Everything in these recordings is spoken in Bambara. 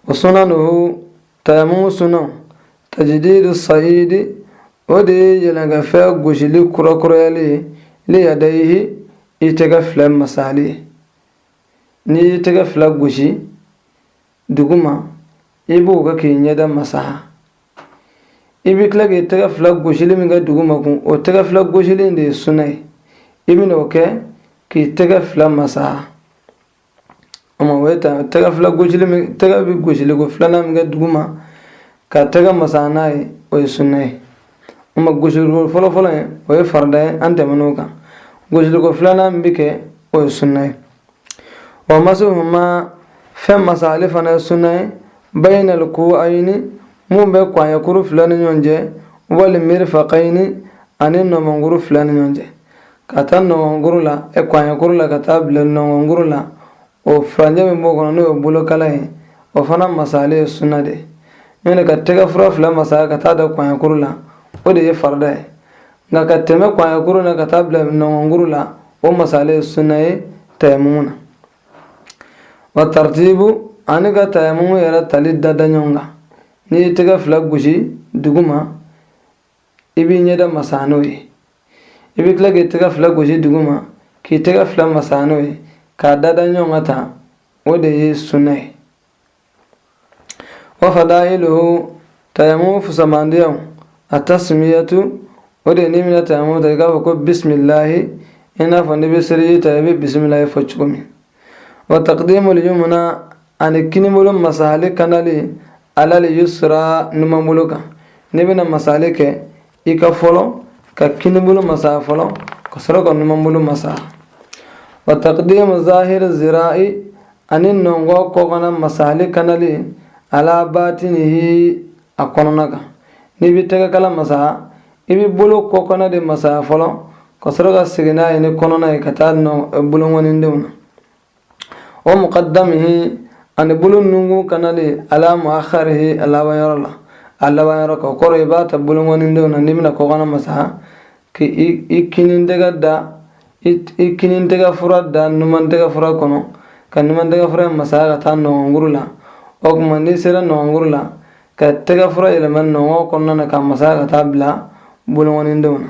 wa sunanuhu tayamumu sunan tajdidu sayidi o de ye yɛlɛnkɛfɛn gosili kurakurayali ye li yadayihi i tɛgɛ fila masali ye n'i y'i tɛgɛ fila gosi duguma i b'o kɛ k'i ɲɛda masaha i bɛ tila k'i tɛgɛ fila gosili min kɛ duguma kun o tɛgɛ fila gosili de ye suna ye i bɛn'o kɛ k'i tɛgɛ fila masaha O ma o ye ta tɛgɛ fila gosili min tɛgɛ bɛ gosili ko filanan min kɛ dugu ma ka tɛgɛ masa n'a ye o ye sunna ye o ma gosili ko fɔlɔ fɔlɔ ye o ye farida ye an tɛmɛn'o kan gosili ko filanan min bɛ kɛ o ye sunna ye wa masahu ma fɛn masali fana ye sunna ye bayinal kuwayini min bɛ kɔɲɛkuru fila ni ɲɔgɔn cɛ wal mirfaqayini ani nɔgɔnkuru fila ni ɲɔgɔn cɛ k'a ta nɔgɔnkuru la ɛ kɔɲɛkuru la ka taa bila nɔgɔnkuru la o furancɛ min b'o kɔnɔ n'o ye bolokala ye o fana masali ye sunna de ye n'o ka tɛgɛ fura fila masaya ka taa dan kɔɲɛkuru la o de ye farida ye nka ka tɛmɛ kɔɲɛkuru na ka taa bila nɔgɔnkuru la o masali ye sunna ye tayamumu na wa taritibu ani ka tayamumu yɛrɛ tali dada ɲɔgɔn kan n'i ye tɛgɛ fila gosi duguma i b'i ɲɛda masaa n'o ye i bɛ tila k'i tɛgɛ fila gosi dugu ma k'i tɛgɛ fila masaa n'o ye k'a dada ɲɔgɔn kan tan o de ye sunna ye wa fadailuhu tayamumu fusamandiyaw atasmiyatu o de ye n'i bɛna tayamumu ta i k'a fɔ ko bisimilahi i n'a fɔ n'i bɛ seliji ta i bɛ bisimilahi fɔ cogo min wa taqdimul yumna ani kinibolo masayali kanali alal yusra numanbolo kan n'i bɛna masayali kɛ i ka fɔlɔ ka kinibolo masaya fɔlɔ ka sɔrɔ ka numanbolo masaya wa taqdimu zahir zira'i ani nɔngɔ kɔkana masayali kanali ala batinihi a kɔnɔna kan n'i bɛ tɛgɛkala masaya i bɛ bolo kɔkana de masaya fɔlɔ ka sɔrɔ ka segin n'a ye ni kɔnɔna ye ka taa bolonkɔnindenw na wa muqadamihi ani bolo nunkun kanali ala muakharihi a laban yɔrɔ la a laban yɔrɔ kan o kɔrɔ i b'a ta bolonkɔnindenw na n'i bɛna kɔkana masaha ka i kinin tɛgɛ da i kinin tɛgɛ fura da numan tɛgɛ fura kɔnɔ ka numan tɛgɛ fura masaya ka taa nɔgɔnkuru la o tuma n'i sera nɔgɔnkuru la ka tɛgɛ fura yɛlɛma nɔgɔ kɔnɔna na ka masaya ka taa bila bolonkɔnindenw na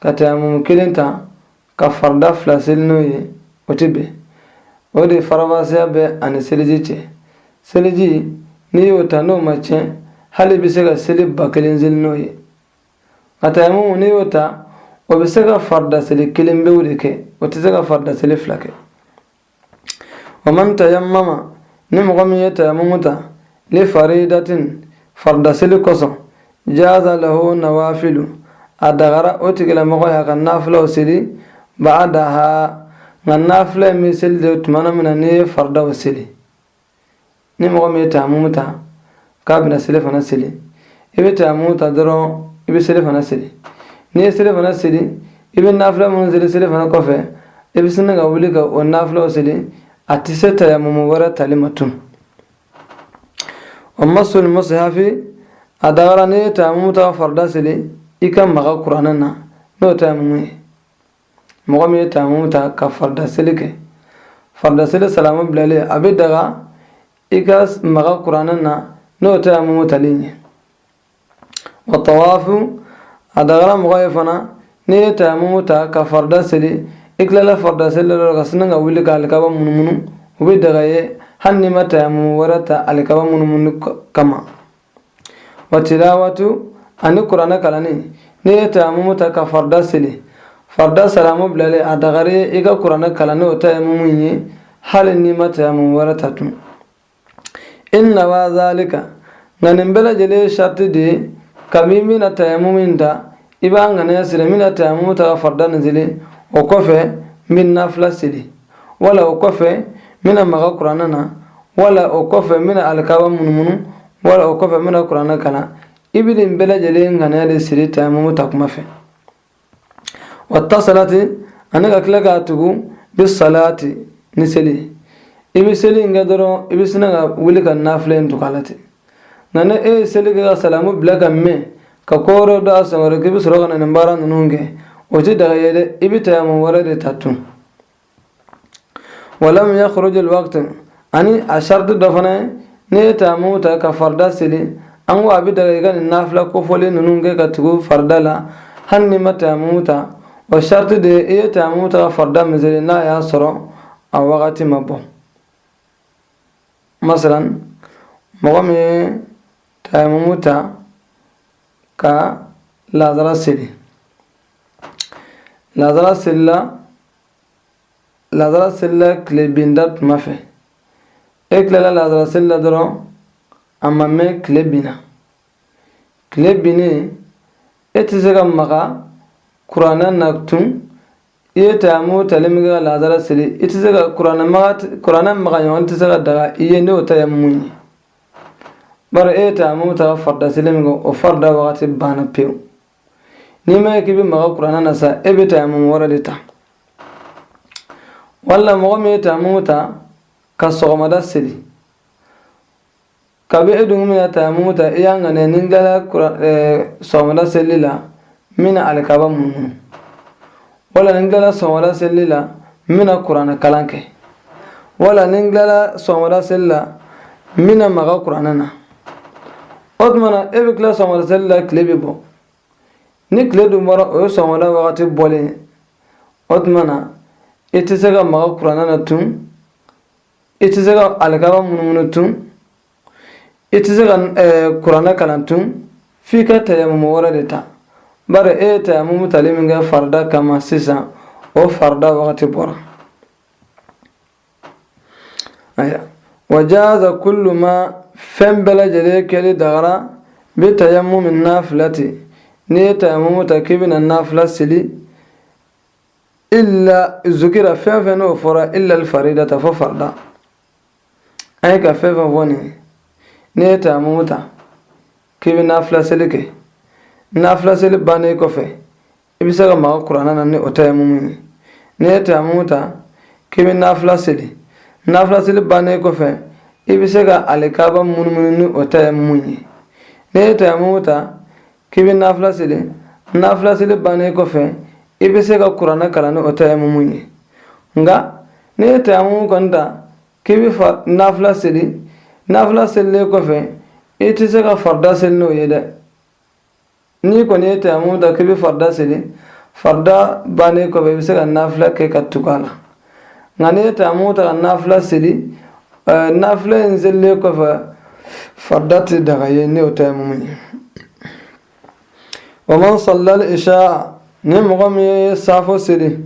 ka tayamumu kelen ta ka farida fila seli n'o ye o tɛ bɛn o de faranfasiya bɛ a ni seliji cɛ seliji n'i y'o ta n'o ma tiɲɛ hali i bɛ se ka seli ba kelen seli n'o ye nka tayamumu n'i y'o ta o bɛ se ka farida seli kelen pewu de kɛ o tɛ se ka farida seli fila kɛ wa man tayammama ni mɔgɔ min ye tayamumu ta li faridatin farida seli kosɔn jaza lahu nawafilu a dagara o tigilamɔgɔ y'a ka nafilaw seli ba'daha nka nafila in bɛ seli de tuma min na n'i ye faridaw seli ni mɔgɔ min ye tayamumu ta k'a bɛna selifana seli i bɛ tayamumu ta dɔrɔn i bɛ selifana seli n'i ye selifana seli i bɛ nafila minnu seli selifana kɔfɛ i bɛ sinna ka wuli ka o nafilaw seli a tɛ se tayamumu wɛrɛ tali ma tun wa masu almusihafi a dagara n'i ye tayamumu ta ka farida seli i ka maga kuranɛ na n'o tayamumu ye mɔgɔ min ye tayamumu ta ka farida seli kɛ farida seli salamu bilalen a bɛ daga i ka maga kuranɛ na n'o tayamumu talen ye wa tawafu a dagara mɔgɔ ye fana n'i ye tayamumu ta ka farida seli i tilala farida seli la dɔrɔn ka sinna ka wuli ka alikaba munumunu o bɛ daga i ye hali n'i ma tayamumu wɛrɛ ta alikaba munumunu kama wa tilawatu ani kuranɛ kalanni n'i ye tayamumu ta ka farida seli farida salamu bilalen a dagara i ka kuranɛ kalan ni o tayamumu ye hali n'i ma tayamumu wɛrɛ ta tun in nawa zalika nka nin bɛɛ lajɛlen sariti de ye kabini i bɛna tayamumu in ta i b'a ŋaniya siri n bɛna tayamumu ta ka farida nin seli o kɔfɛ n bɛ nafila seli wala o kɔfɛ n bɛna maga kuranɛ na wala o kɔfɛ n bɛna alikaba munumunu wala o kɔfɛ n bɛna kuranɛ kalan i bɛ nin bɛɛ lajɛlen ŋaniya de siri tayamumu ta kuma fɛ wa tasalati an'i ka tila k'a tugu bi salati ni seli i bɛ seli in kɛ dɔrɔn i bɛ sinna ka wuli ka nafila in tugu a la ten nka ni e ye seli kɛ ka salamu bila ka mɛn ka ko wɛrɛ don a sen kɔrɔ k'i bɛ sɔrɔ ka na nin baara ninnu kɛ o tɛ daga i ye dɛ i bɛ tayamumu wɛrɛ de ta tun walam yakhruj alwaqt ani a sharti dɔ fana ye n'i ye tayamumu ta ka farida seli an ko a bɛ daga i ka nin nafila kofɔlen ninnu kɛ ka tugu farida la hali n'i ma tayamumu ta o sharti de ye i ye tayamumu ta ka farida min seli n'a y'a sɔrɔ a wagati ma bɔ masalan mɔgɔ min ye tayamumu ta ka lazara seli lazara selila lazara selila tile binda tuma fɛ e tilala lazara seli la dɔrɔn a ma mɛn tile binna tile binnen e tɛ se ka maga kuranɛ na tun i ye tayamumu tali min kɛ ka lazara seli kuranɛ maga ɲɔgɔn tɛ se ka daga i ye n'o tayamumu ye bari e ye tayamumu ta ka farida seli min kɛ o farida wagati banna pewu n'i ma ye k'i bɛ maga kuranɛ na sa e bɛ tayamumu wɛrɛ de ta wala mɔgɔ min ye tayamumu ta ka sɔgɔmada seli ka bɛ dugu min na tayamumu ta i y'a ŋaniya ni n tilala sɔgɔmada selili la n bɛna alikaba munumunu wala ni n tilala sɔgɔmada selili la n bɛna kuranɛ kalan kɛ wala ni n tilala sɔgɔmada selili la n bɛna maga kuranɛ na o tuma na e bɛ tila sɔgɔmada selili la tile bɛ bɔ ni tile dun bɔra o ye sɔgɔmada wagati bɔlen ye o tuma na i tɛ se ka maga kuranɛ na tun i tɛ se ka alikaba munumunu tun i tɛ se ka eh, kuranɛ kalan tun f'i ka tayamumu wɛrɛ de ta bari e ye tayamumu tali min kɛ farida kama sisan o farida wagati bɔra wa jaza kullu ma fɛn bɛɛ lajɛlen kɛli dagara bi tayamumi nafilati n'i ye tayamumu ta k'i bɛna nafila seli illa zukira fɛn o fɛn n'o fɔra illal faridata fɔ farida an ye ka fɛn o fɛn fɔ nin n'i ye tayamumu ta k'i bɛ nafila seli kɛ nafila seli bannen kɔfɛ i bɛ se ka maga kuranɛ na ni o tayamumu ye n'i ye tayamumu ta k'i bɛ nafila seli nafila seli bannen kɔfɛ i bɛ se ka alikaba munumunu ni o tayamumu ye n'i ye tayamumu ta k'i bɛ nafila seli nafila seli bannen kɔfɛ i bɛ se ka kuranɛ kalan ni o tayamumu ye nka n'i ye tayamumu kɔni ta k'i bɛ fa nafila seli nafila selilen kɔfɛ i tɛ se ka farida seli n'o ye dɛ n'i kɔni ye tayamumu ta k'i bɛ farida seli farida bannen kɔfɛ i bɛ se ka nafila kɛ ka tugu a la nka n'i ye tayamumu ta ka nafila seli nafila in selilen kɔfɛ farida tɛ daga i ye ni o tayamumu ye wa man sallal isha ni mɔgɔ min ye saafo seli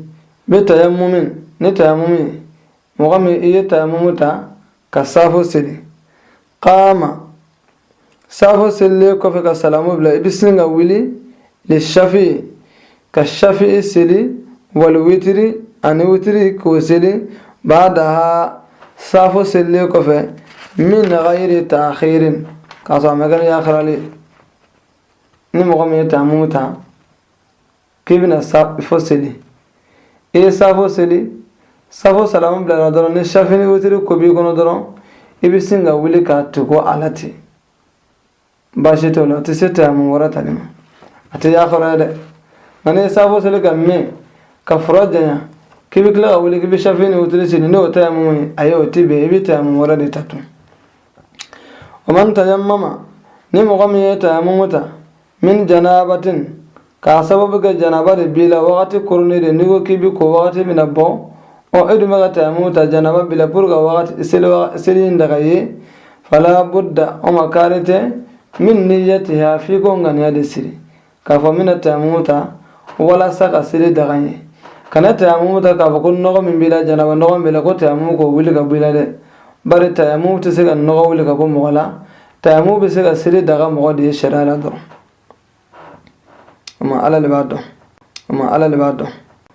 bi tayamumin ni tayamumu ye mɔgɔ min ye tayamumu ta ka saafo seli qaama saafo selilen kɔfɛ ka salamu bila i bɛ sin ka wuli lishafi ka shafi seli wali witiri ani witiri k'o seli baadaha saafo selilen kɔfɛ min gayiri taaxirin k'a sɔrɔ a ma kɛ ni yakarali ni mɔgɔ min ye tayamumu ta k'i bɛna safo seli i ye safo seli safo salamu bilara dɔrɔn ni safi ni wotiri ko b'i kɔnɔ dɔrɔn i bɛ sin ka wuli k'a tugu a la ten baasi t'o la o tɛ se tayamu wɛrɛ tali ma a tɛ yafara ye dɛ nka n'i ye safo seli ka mɛn ka fura janya k'i bɛ tila ka wuli k'i bɛ safi ni wotiri seli n'o tayamu ye ayi o tɛ bɛn i bɛ tayamu wɛrɛ de ta tun o ma tayamu ma ni mɔgɔ min ye tayamu ta min janabatin k'a sababu kɛ janaba de b'i la wagati koronnen de n'i ko k'i bɛ ko wagati bɛna bɔ ɔ e dun bɛ ka tayamu ta janaba b'i la pour que wagati seli seli in daga i ye fala budda o ma kari tɛ min niyatiha f'i k'o ŋaniya de siri k'a fɔ n bɛna tayamu ta walasa ka seli daga n ye kana tayamu ta k'a fɔ ko nɔgɔ min b'i la janaba nɔgɔ min b'i la ko tayamu k'o wuli ka bɔ i la dɛ bari tayamu tɛ se ka nɔgɔ wuli ka bɔ mɔgɔ la tayamu bɛ se ka seli daga mɔgɔ de ye sariya la dɔrɔn o ma ala de b'a dɔn o ma ala de b'a dɔn